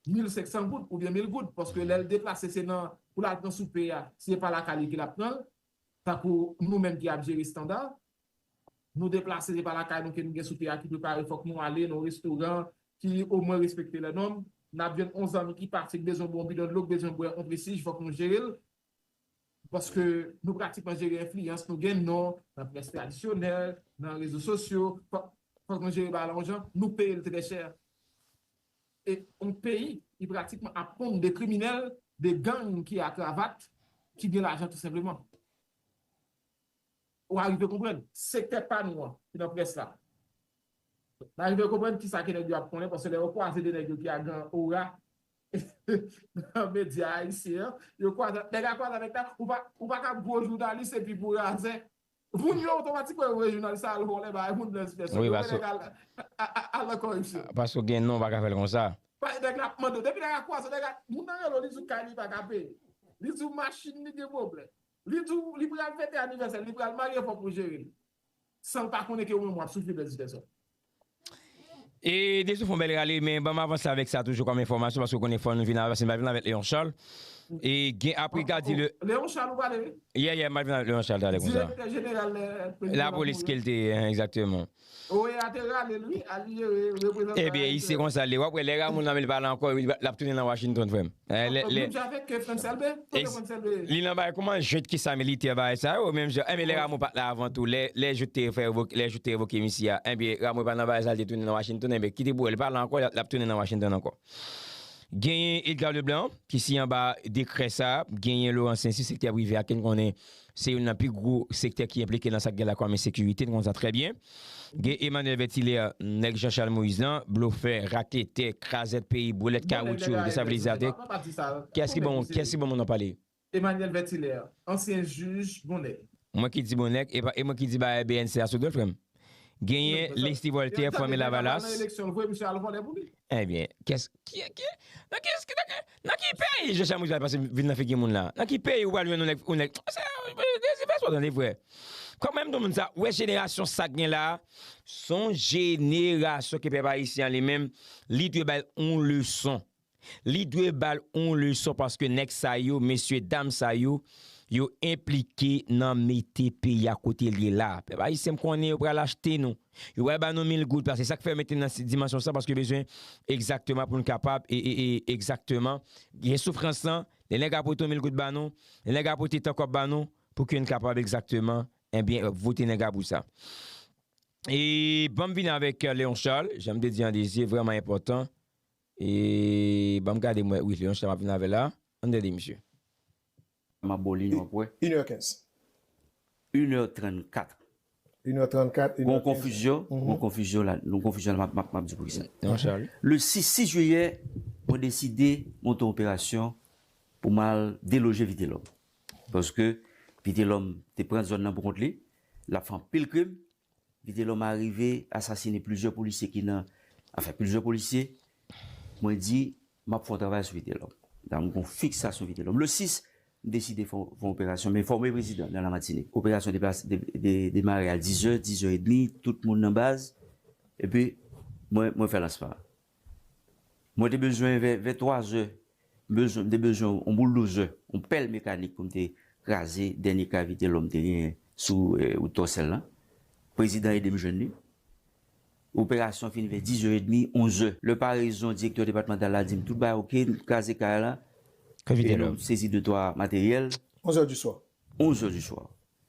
C: 1500 goud oubyen 1000 goud paske lè l deplase se nan pou l al pran soupe a, si e pa lakay li ke l ap pran l, tankou nou menm ki ap jere Standard, nou deplase se pa lakay nou ke nou gen soupe a ki prepare fòk nou ale nan yon restoran ki omwen respekte lè nòm, n ap jwenn yon zanmi ki pati k bezwen bwè yon bidon dlo, k bezwen bwè yon presij fòk nou jere l, Paske nou pratikman jere enfliyans nou gen non nan près tradisyonèl, nan rezo sosyo, fòk nou jere bagay la yon jan, nou peye l trè chè. E yon peyi ki pratikman ap ponn de kriminèl, de gang ki a kravat, ki gen lajan tou senpleman. Ou arive konprann? Sektè pa nou an ki nan près la. N arive konprann kisa ke nèg yo ap konnen paske lè yo kwaze de nèg yo ki a gran ora, nan medya ayisyen an yo kwaza nèg a kwaza nèg la ou pa ou pa ka gwo jounalis epi pou razè moun yo otomatikman yo wè jounalis la al vòlè bay moun blens fè sòt yo wè nèg al al nan kòripsyon. Paske ou gen non ou pa ka fè
B: l konsa. Bay nèg la ap mande w depi
C: nèg la kwaze nèg la moun nan rele w li di w kay li pa ka peye li di w machin li gen pwoblèm li di w li pral fete anivèsè l li pral marye fòk ou jere l San l pa konnen ke ou menm wap soufri
B: pèdi tèt sa. E Desou fon bèl rale men banm avanse avèk sa toujou kòm enfòmasyon paske ou konnen fò nou vin avanse m pral vin avèk Léon Charles e gen apre gadi le Léon Charles ou pale wi.
C: Yè yè m pral vin avèk Léon
B: Charles talè konsa. Direktè jeneral lè
C: prezidan la polis ke l
B: te ye egzakteman. Oe a te
C: rale l wi al li jere reprezantan Ebyen i se konsa
B: l ye wap wè lè Rameau nan men l pale ankò lap tounen nan Washington frè m. Menm jan avèk Frantz Elbe, kote
C: Frantz Elbe ye? Li nan bagay kouman
B: jwet ki sa militè bagay sa yo menm jan enben lè Rameau pat la avan tou lè jout te fè revoke lè jout te revoke misye a enben Rameau pa nan bagay sa li te tounen nan Washington enben kite pou wè li pa la ankò lap tounen nan Washington ankò genyen Edgar Leblanc ki si anba dekrè sa genyen Laurent Saincy sektè prive a ken konnen Se youn nan pi gwo sektè ki enplike nan sa ki gen lakòm ensekirite, nou konnen sa trè byen. Gen Emmanuel Vertilaire, nèg Jean Charles Moïse lan, blofè, raketè, krazèt peyi, brelèt kawoutchou, destabilizatè. Kiyès ki bon, kiyès ki bon moun nan pale? Emmanuel Vertilaire,
C: ansyen jij, bon nèg. Mwen ki di bon nèg,
B: e pa, e mwen ki di bagay bnc a sou dol frè m. Genyen Lesly Voltaire, fanmi Lavalas. Li menm, li pa t al nan eleksyon l vre, misye al vòlè pou li. Ebyen kès ki ki nan ki ki nan nan ki peyi je chamou pral pase vil nan figi moun la nan ki peyi ou pral jwenn yon nèg yon nèg se dezi fè sa w tande frè kòm menm tou moun sa ou wè jenerasyon sa k gen la s on jenerasyon ke pèp ayisyen an li menm li dwe bay yon leson li dwe ba l yon leson paske nèg sa yo mesye dam sa yo yo enplike nan mete peyi a kote l ye la pèp ayisyen m konnen yo pral achte nou Yo pral ba nou mil goud la. Se sa k fè yo mete n nan dimansyon sa paske yo bezwen egzakteman pou n kapab egzakteman gen soufrans lan. Lè nèg a pote yon mil goud ba nou, lè nèg a pote tan kòb ba nou pou ke n kapab egzakteman enben vote nèg la pou sa. E ban m vini avèk Leon Charles, jan m te di an li se vrèman enpòtan e ban m gade m wè wi Leon Charles m ap vin avè l la. An n gade misye. Map baw li non wap
D: wè. Une heure quinze. Une heure trant kat. Une
E: heure trant kat, une heure
D: quinze. Gon konfizyon la, gon konfizyon la map di poukisa. Le 6
B: jiyè
D: mwen deside monte
B: yon
D: operasyon pou m al deloje Vitelòm. Paske Vitelòm te pran zòn nan pou kont li, lap fè anpil krim. Vitelòm arive asasine plizyè polisye ki nan afè plizyè polisye mwen di map fon travay sou vitelòm dan m gon fiksasyon vitelòm le 6 m deside fon fon operasyon m enfòme prezidan dan la matinik operasyon deplase de demare a dizè dizè edmi tout moun nan baz epi mwen mwen fè lansman an. Mwen te bezwen vè vè 3 zè m bezwen m te bezwen on bouldozè, on pèl mekanik pou m te kraze dènye kavite lòm te genyen sou wout Tòsèl lan. Prezidan ede m jwenn li. Operasyon an fini vè dizè edmi, onzè. Lè parezon direktè depatmantal la di m tout bagay oke, n kraze kay la e nou sezi de twa materyèl. Onzè di swa.
E: Onzè di swa.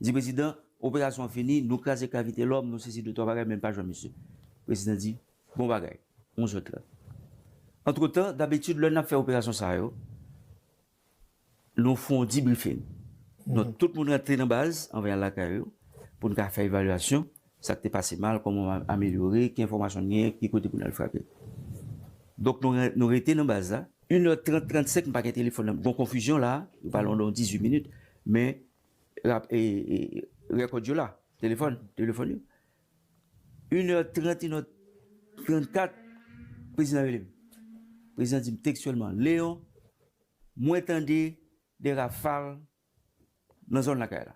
D: Di prezidan, Operasyon an fini, nou kraze ka Vitelòm, nou sezi de twa bagay men pa jwenn misye. Prezidan di, Bon bagay, onz è trant. Antretan, dabitid lè n ap fè operasyon sa yo, nou fon dibrifing. Donk tout moun rantre nan baz, anvan y al lakay yo, pou n ka fè evalyasyon. Sa k te pase mal, kòman w amelyore, ki enfòmasyon n genyen, ki kote pou n al frape. Donk nou rete nan baz la. Yn è trant, trantsèk m pa gen telefòn nan m. Gon konfizyon la a, yo pale pandan yon dizwit minit men rèkòd yo la, telefòn, telefòn yo. Yn è trant, yn è trantkat, prezidan rele m. Prezidan di m tekstyèlman, Leon, mwen tande de rafal nan zòn lakay la.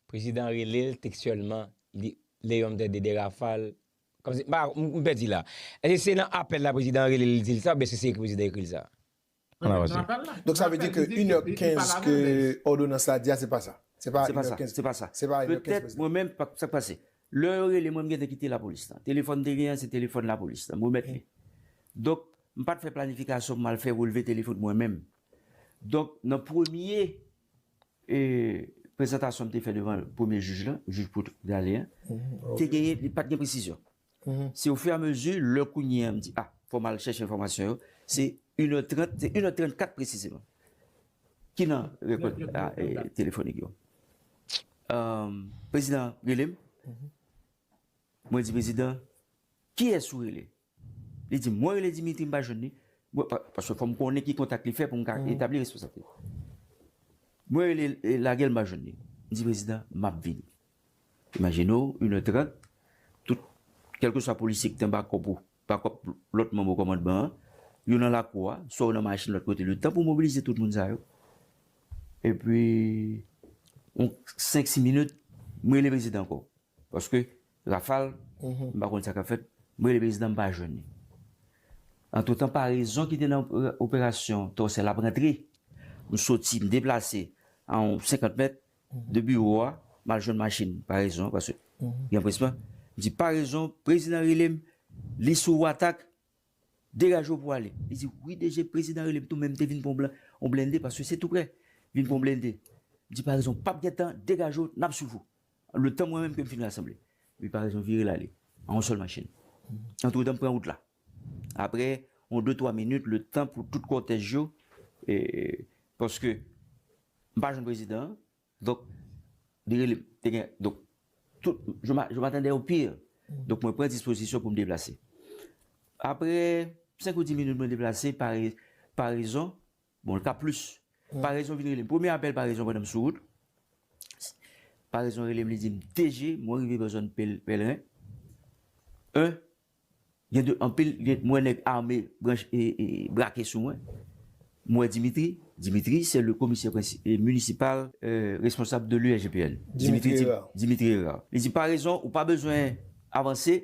D: Prezidan an
B: rele l tekstyèlman li le yon mtè de de rafal kòm si, m pa, m pèdi la. Èske se nan apèl la prezidan an rele l li di l sa oubyen èske se ekri prezidan ekri l sa? Ann avanse.
E: Donk sa vle di ke inè kenz ke òdonans la di a se pa sa? Se pa inè kenz? Se pa sa. Se pa inè kenz prezidan? Petèt mwen
D: menm, sa k pase? Lè yo rele mwen m gentan kite lapolis la. Telefòn m te genyen an se telefòn lapolis la. M remèt li. Donk m pa t fè planifikasyon pou m al fè relve telefòn mwen menm. Donk nan premye prezantasyon m te fè devan premye jij la, jij Poul Gale a, te genyen, li pa t gen presizyon. Se ofiramezi lè kounye a m di a, fò m al chèche enfòmasyon yo, se inè trant, se inè trant kat presizeman. Ki nan rekòd telefonik yo. Prezidan rele m, mwen di prezidan, kiyès ou rele? Li di m, mwen rele Dimitri m pa jwenn li, paske fò m konnen ki kontak li fè pou m ka etabli responsabilite m. Mwen rele l, lage l m pa jwenn li. M di prezidan, m ap vini. Imajine w, inè trant, tout, kèlkeswa polisye ki te anba kòp ou, anba kòp lòt manm okòmandman an, yo nan lakou a, swa yo nan machin lòt kote, letan pou mobilize tout moun sa yo. Epi, yon senk si minit, m rele prezidan ankò, paske Rafal, m pa konn sa k ap fèt, m rele prezidan m pa jwenn li. Antretan parezon ki te nan operasyon tòsèl ap rantre, m soti, m deplase an 50 mèt de biwo a, m al jwenn machin parezon an paske gen anpresman, m di parezon prezidan rele m, li sou watak, degaje w pou w ale. Li di wi DG prezidan rele m tou men m te vin pran yon blende paske se tou prè, vin pran yon blende. M di parezon pa p gen tan, degaje w, n ap swiv ou. Letan mwen menm ke m fin rasanble. Li pa rezon vire l ale. An yon sèl machin. Antretan m pran wout la. Apre yon de twa minit, letan pou tout kòtèj yo, e, paske, m pa jwenn prezidan an, donk, li rele m. Te gen, donk, tout, je m'a, je m'attendais au pire. Donk mwen pran dispozisyon pou m deplase. Apre senk ou di minit mwen deplase, pa re, pa rezon, Bon l ka plis. Parezon vin rele m. Premye apèl Parezon pandan m sou wout. Parezon rele m li di m DG mwen rive bò zòn Pèlren 1 gen de anpil m wè nèg ame brake sou mwen. M wè Dimitri. Dimitri se le komisè minisipal responsab de l'ULGPN. Dimitri Hérard. Dimitri Hérard. Li di Parezon ou pa bezwen avanse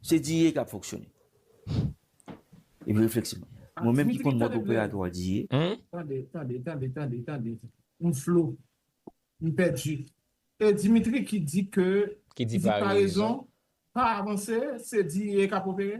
D: Se Diye kap fonksyone. Epi refleksyon. Mwen menm ki konn mòd operatwa Diye. Tande, tande,
C: tande, tande, tande. M flo. M pèdi. E Dimitri ki di ke, ki di parezon,
B: pa avanse,
C: se Diye kap opere?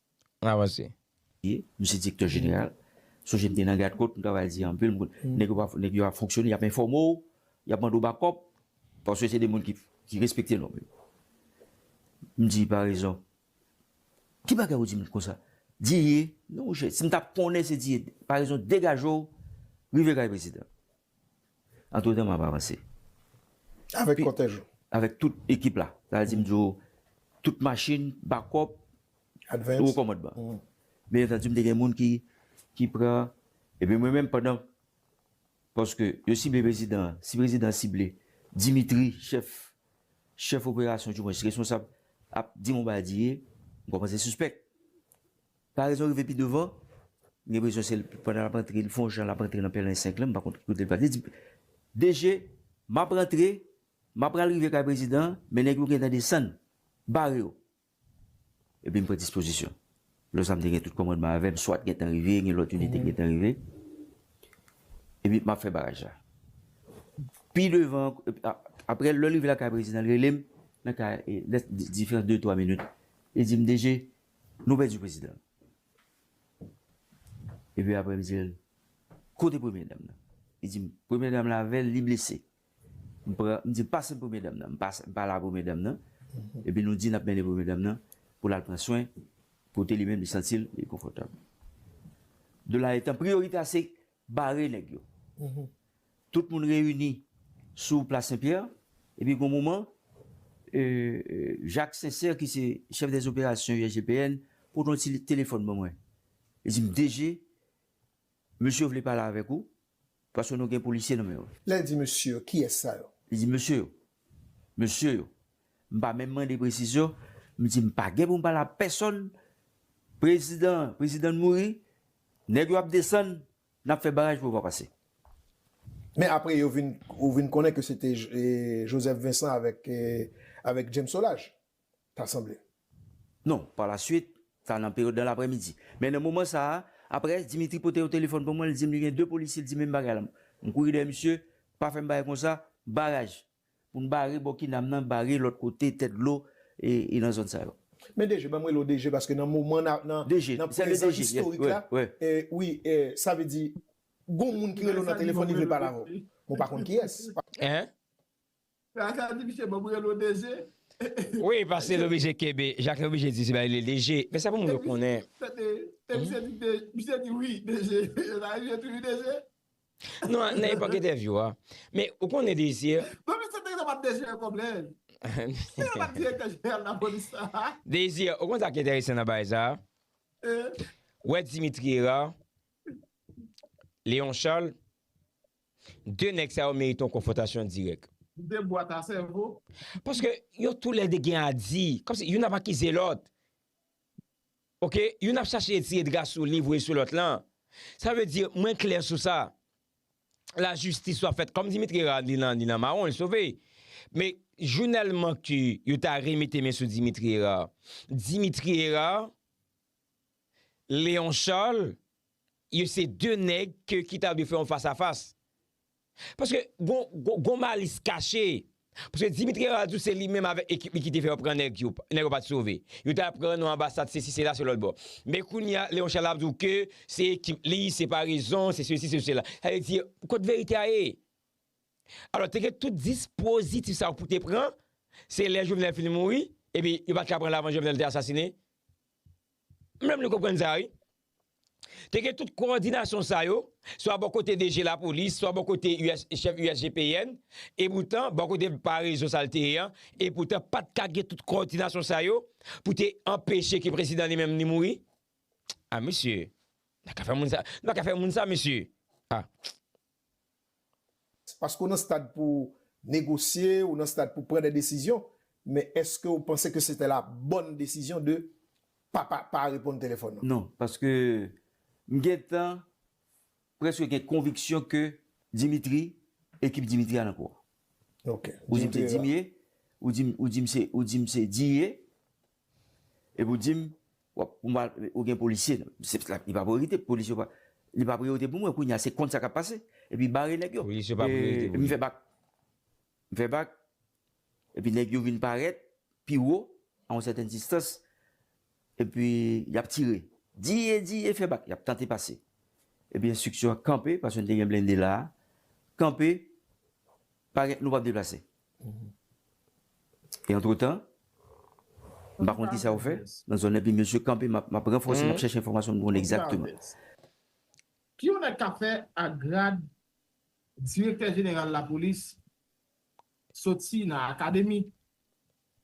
B: An avanse. ye m se
D: direktè jeneral sonje m te nan gadkot m travay di anpil nèg yo ap fonksyone y ap enfòme w y ap mande w bakòp paske se 2 moun ki respekte nòm yo m di parezon ki bagay ou di m konsa di ye non monchè si m t ap konnen se di ye parezon degaje w rive kay prezidan. Antretan m ap avanse.
E: Avèk kòtèj ou? Avèk tout ekip
D: la. Sa vle di m di w tout machin, bakòp, wo
E: kòmandman.
D: Byen antandu m te gen moun ki pran epi mwen menm pandan paske yo sible prezidan an, si prezidan an sible Dimitri chèf chèf operasyon diwens responsab ap di m yon bagay di e m kòmanse sispèk. Paraison rive pi devan, m gen presyon se pandan lap antre li fon jan lap antre nan pèlen 5 lan m pa konn ki kote l pral li di DG map rantre map pral rive kay prezidan an men nèg yo gentan desann bare yo epi m pran dispozisyon lè sa m te gen tout kòmandman avè m swat gentan rive gen lòt inite ki gentan rive epi map fè baraj la pi devan aprè lè l rive lakay prezidan l rele m nan kay lè diferans de 3 minit li di m DG Nou pèdi prezidan nou. Epi apre m di l, Kote premye dam nan? Li di m, Premye dam lan avè l, li blese. M di l, Pase m premye dam nan. M pale a premye dam nan. Epi nou di n ap mennen premye dam nan pou l al pran swen kote li menm li santi l li konfòtab. De la etan, priyorite a se bare nèg yo. Tout moun reyini sou plas Sen Pyè, epi gon moman, Jak Sensè ki se chèf dè zoperasyon USGPN pote yon ti telefòn ban mwen. Li di m, DG, mesye yo vle pale avèk ou, paske nou gen polisye nan men yo. Lè l di mesye yo, kiyès
E: sa yo? Li di mesye yo,
D: mesye yo. M pa menm mande presizyon, m di m pa gen pou m pale a pèsonn, prezidan an, prezidan an mouri, nèg yo ap desann, Nap fè baraj pou yo pa pase.
E: Men apre yo vin ou vin konnen ke se te Joseph Vincent avèk avèk James Solage, ta sanble. Non, par
D: la suite, sa nan peryòd nan laprèmidi. Men nan moman sa a, apre Dimitri pote yon telefòn pou mwen, li di m li gen 2 polisye, li di m menm bagay la. M kouri dèyè misye, pa fè m bagay konsa, baraj. Pou n bare bò kinam nan bare lòt kote tèt dlo e nan zòn sa yo. Men DG, banm rele w
E: DG paske nan moman nan nan prezan istorik la wi sa vle di gon moun ki rele w nan telefòn li vle pale avè w men w pa konn kiyès. Hein?
B: Sa
C: sa di misye banm rele w DG? Wi
B: paske li oblije kenbe Jacques li oblije di se bay li DG men sa pou moun yo konnen. Tande, e misye di
C: DG misye di wi DG e sa rive tou wi DG? Non nan epòk
B: entèvyou a. Men ou konnen Désir. Bon men se te gentan bat
C: Désir yon kòb lè. Ki lè l bat direktè jeneral lapolis
B: la. Désir ou konn sa k entèresan nan bagay sa. Ou wè Dimitri Hérard, Léon Charles, 2 nèg sa yo merite yon konfwontasyon dirèk. 2 bwat a
C: sèvo. Paske
B: yo tou lè 2 gen a di. Kòmsi youn ap akize lòt. Ok youn ap chache etire dra sou li voye sou lòt lan sa vle di mwen klè sou sa la jistis wap fèt kòm Dimitri Herard li nan li nan mawon li sove me jounèlman ke yo ta re mete men sou Dimitri Herard Dimitri Herard Leon Charles yo se de nèg ke ki ta dwe fè yon fas a fas. Paske gon malis kache. Paske Dimitri Herard di w se li menm avèk ekip li ki te fè yo pran nèg yo. Nèg yo pa t sove. Yo te al pran nan anbasad sesi sela se lòtbò. Men kounye a Léon Charles ap di w ke se ekip li, se pa rezon, se sesi se sela. Sa vle di kot verite a ye? Alò te gen tout dispozitif sa yo pou te pran, se lè Jovenel fin mouri, epi yo pa t ka pran l avan Jovenel te asasine? M menm nou konprann sa wi. Te gen tout kowòdinasyon sa yo, swa bò kote DG lapolis, swa bò kote chèf USGPN, epoutan bò kote pa rezon sa l te ye an, epoutan pa t ka gen tout kowòdinasyon sa yo pou te anpeche ke prezidan li menm li mouri? A mesye! Nou pa ka fè moun sa mesye! A!
E: Paske w nan stad pou w negosye, ou nan stad pou w pran de desizyon, men eske w panse ke sete la bòn desizyon de pa pa pa reponn telefòn lan? Non, paske
D: m gentan preske gen konviksyon ke Dimitri, ekip Dimitri a nan kou a. Ok,
E: Dimitri la. Ou di m se
D: Dimye, ou di m se, ou di m se Diye, Epi w di m, wap, pou m al, ou gen polisye nan, se pske li pa priyorite, polisye pa, li pa priyorite pou mwen, kounye a se kont sa kap pase, epi bare nèg yo. Polisye pa priyorite pou li. M fè
B: bak,
D: m fè bak, epi nèg yo vin parèt, pi wo, a yon sèten distans, epi yap tire, di, di, e fè bak, yap tante pase. Epi enstriksyon an kanpe, paske nou te gen blende la a, kanpe, pa gen, nou pap deplase. E antretan, m pa konn ki sa yo fè nan zòn nan epi mesye kanpe m ap ranfòse m ap chèche enfòmasyon m konn egzakteman.
C: Ki yon nèg ka fè ak grad direktè jeneral lapolis soti nan akademi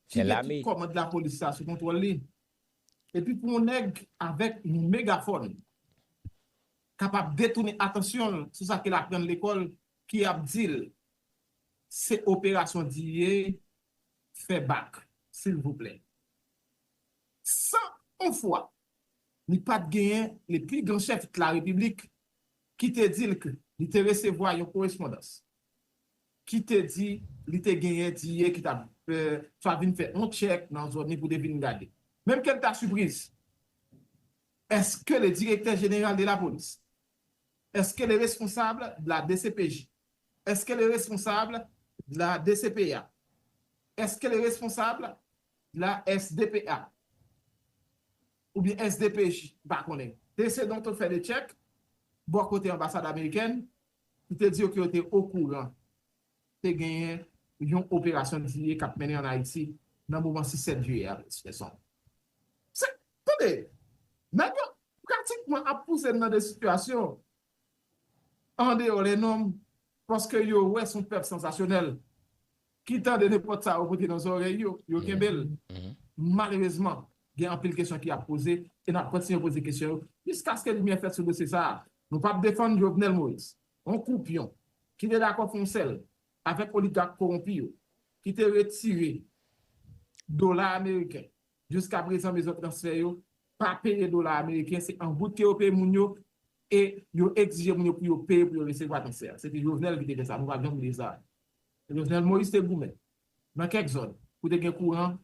C: ki gen tout kòmand lapolis sa sou kontwòl li epi pou yon nèg avèk yon megafòn kapab detounen atansyon l sou sa ke l aprann lekòl ki ap di l Se operasyon di ye fè bak silvouplè. San on fwa li pat genyen le pli gran chèf dla repiblik ki te di l k li te resevwa yon korespondans ki te di li te genyen di ye ki tap swa vin fè on tchèk nan zòn li pou te vin gade. Menm ke l ta sipriz, eske le direktè jeneral de la polis, eske le responsab dla dcpj Est-ce qu'elle est responsable de la DCPA? Est-ce qu'elle est responsable de la SDPA? Oubyen SDPJ? M pa konnen. Dese Donto fè 2 tchèk bò kote anbasad amerikèn pou te di yo ke yo te okouran te genyen yon operasyon dye kap mennen an Ayiti nan moman 6 7 jiyè a Plis Fenson. Se, tande! Nèg yo pratikman ap pouse n nan 2 sitiyasyon andeyò lè nonm paske yo wè son pèp sansasyonèl ki tande nenpòt sa yo pote nan zòrèy yo, yo kenbe l. Malerezman, gen anpil kesyon ki ap poze e n ap kontinye poze kesyon yo jiskaske limyè fèt sou dosye sa a. Nou pap defann Jovenel Moïse, yon koupyon ki te dakò fè yon sèl avèk oligak kowonpi yo, ki te retire dola ameriken Jiska prezan mezon transfè yo pa peye dola ameriken se an goud ke yo peye moun yo e yo egzije moun yo pou yo peye pou yo resevwa transfè a. Se te Jovenel ki te fè sa, nou pap janm bliye sa. Jovenel Moïse te goumen nan kèk zòn pou te gen kouran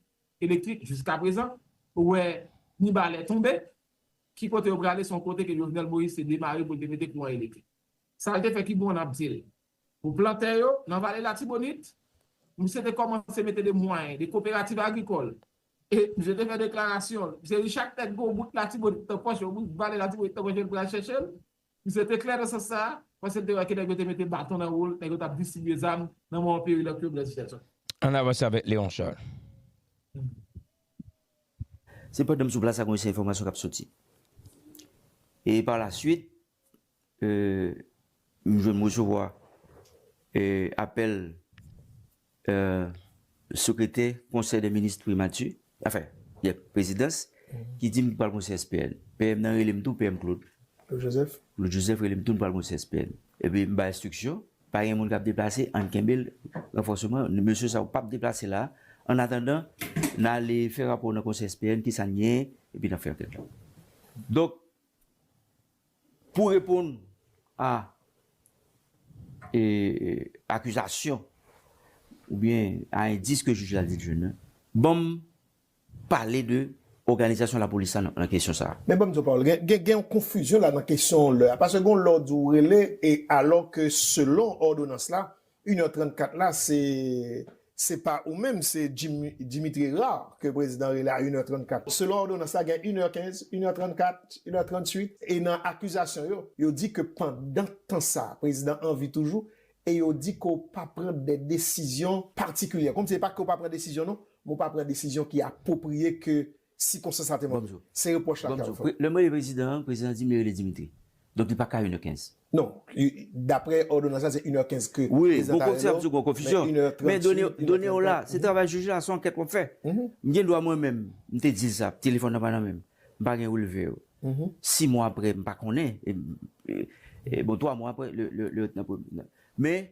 C: elektrik jiska prezan ou wè Mibalè tonbe ki kote yo prale se yon kote ke Jovenel Moïse te demare pou li te mete kouran elektrik. Sa li te fè ki bon nap dil Pou plantè yo, nan Vale Latibonit, misye te kòmanse mete de mwayen, de koperativ agrikòl. E, misye te fè deklarasyon l, misye di chak nèg gen yon bout Latibonit nan pòch, yon bout Vale Latibonit nan pòch yo pral chèche l. Misye te klè nan sans sa a, paske l te wè ke nèg yo te mete baton nan wou l, nèg yo t ap distribye zam nan moman peril ak yo, Blaise Richardson. Ann avanse avèk
B: Léon Charles.
D: Se pandan m sou plas la konn gen sèl enfòmasyon k ap soti. E pa la suit, Humm jwenn m resevwa apèl sekretè konsèy dè minis primati anfen yep prezidans ki di m pral gon CSPN PM nan rele m tou PM Claude
E: Claude Joseph rele m tou nou pral
D: gon CSPN epi m bay enstriksyon pa gen moun k ap deplase ann kenbe l ranfòseman mesye sa yo p ap deplase la ann atandan n ale fè rapò nan konsèy CSPN kisa n gen epi n ap fè ankèt la donk. Pou reponn a akizasyon oubyen a endis ke jij la di l jwenn nan, ban m pale de òganizasyon lapolis la nan kesyon sa a. Men ban m di w Paul,
E: gen yon konfizyon la nan kesyon lè a. Paske gen yon lè w di w rele e alò ke selon òdonans la, 1 è 34 la se se pa ou menm se Dimitri Rard ke prezidan rele a 1 è 34. Selon òdonans la gen 1 è 15, 1 è 34, 1 è 38 e nan akizasyon yo, yo di ke pandan tan sa a prezidan anvi toujou e yo di ke w pa pran de desizyon patikilyè. Kòmsi e pa ke w pa pran desizyon non, men w pa pran desizyon ki apwopriye ke si konsa sa te mande. Se repwòch la Carl fè. Lè m rele prezidan
D: an, prezidan an di m li rele Dimitri. Donk li pa ka 1 è 15. Non,
E: daprè òdonans la se 1 è 15 ke prezidan ta rele
D: w, men 1 è 30 si, 1 è 30 pa. Men done w la, se travay jij la, se yon ankèt w ap fè. M gen dwa mwen menm, m te di l sa, telefòn nan pa nan men m, m pa gen relve yo. 6 mwa aprè, m pa konnen, bon 3 mwa aprè, lè yo te nan premye. Men.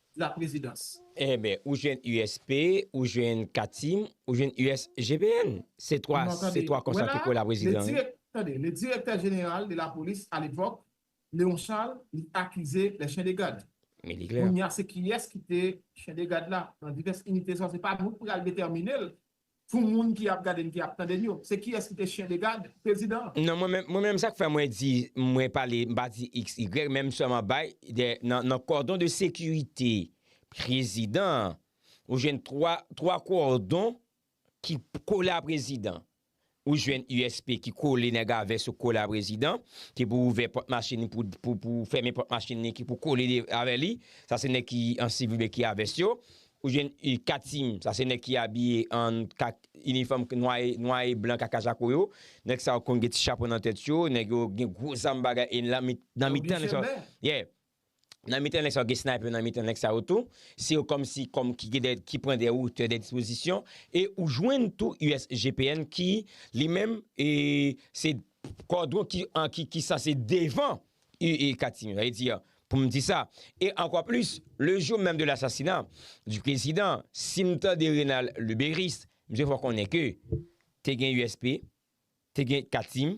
C: la prezidans. Enben ou jwenn
B: USP, ou jwenn Katim, ou jwenn USGPN. Se 3, se 3 konsa ki pou la prezidans wi. Tande, le direktè
C: jeneral de la polis a lepòk, Leon Charles, li akize lè chen de gad. Men li klè. Kounya
B: se kiyès ki te
C: chen de gad la nan divès inite sa se pa nou ki pral detèmine l pou moun ki ap gade n ki ap tande n yo, se kiyès ki te chyen de gad prezidan an? Non, mwen menm sa
B: k fè mwen di mwen pale, m pa di XY men m sèlman bay de nan kòdon de sekirite prezidan an ou jwenn 3 kòdon ki kole a prezidan. Ou jwenn USP ki kole nèg a vès ou kole a prezidan, ki pou ouvè pòt machin li pou fèmen pòt machin li ki pou kole avè li, sa se nèg ki an sivil oubyen ki a vès yo. Ou jwenn Katim, sa se nèg ki abiye an kak inifòm nwa e blan kaka jako yo. Nèg sa yo konn gen ti chapo nan tèt yo, nèg yo gen gwo zam bagay e nan mitan nèg sa yo. Yon Bichemè! Yeah! Nan mitan nèg sa yo gen sniper nan mitan nèg sa yo tou, se yo kòm si kòm ki gen dè ki pran dè otè dè dispozisyon e ou jwenn tou USGPN ki li menm e se kòdwon ki an ki ki sanse devan u e katimini sa vle di pou m di sa e ankò plis le jou menm de lasasina di prezidan si m tande Renal Luberice msye fò konnen ke te gen USP te gen katim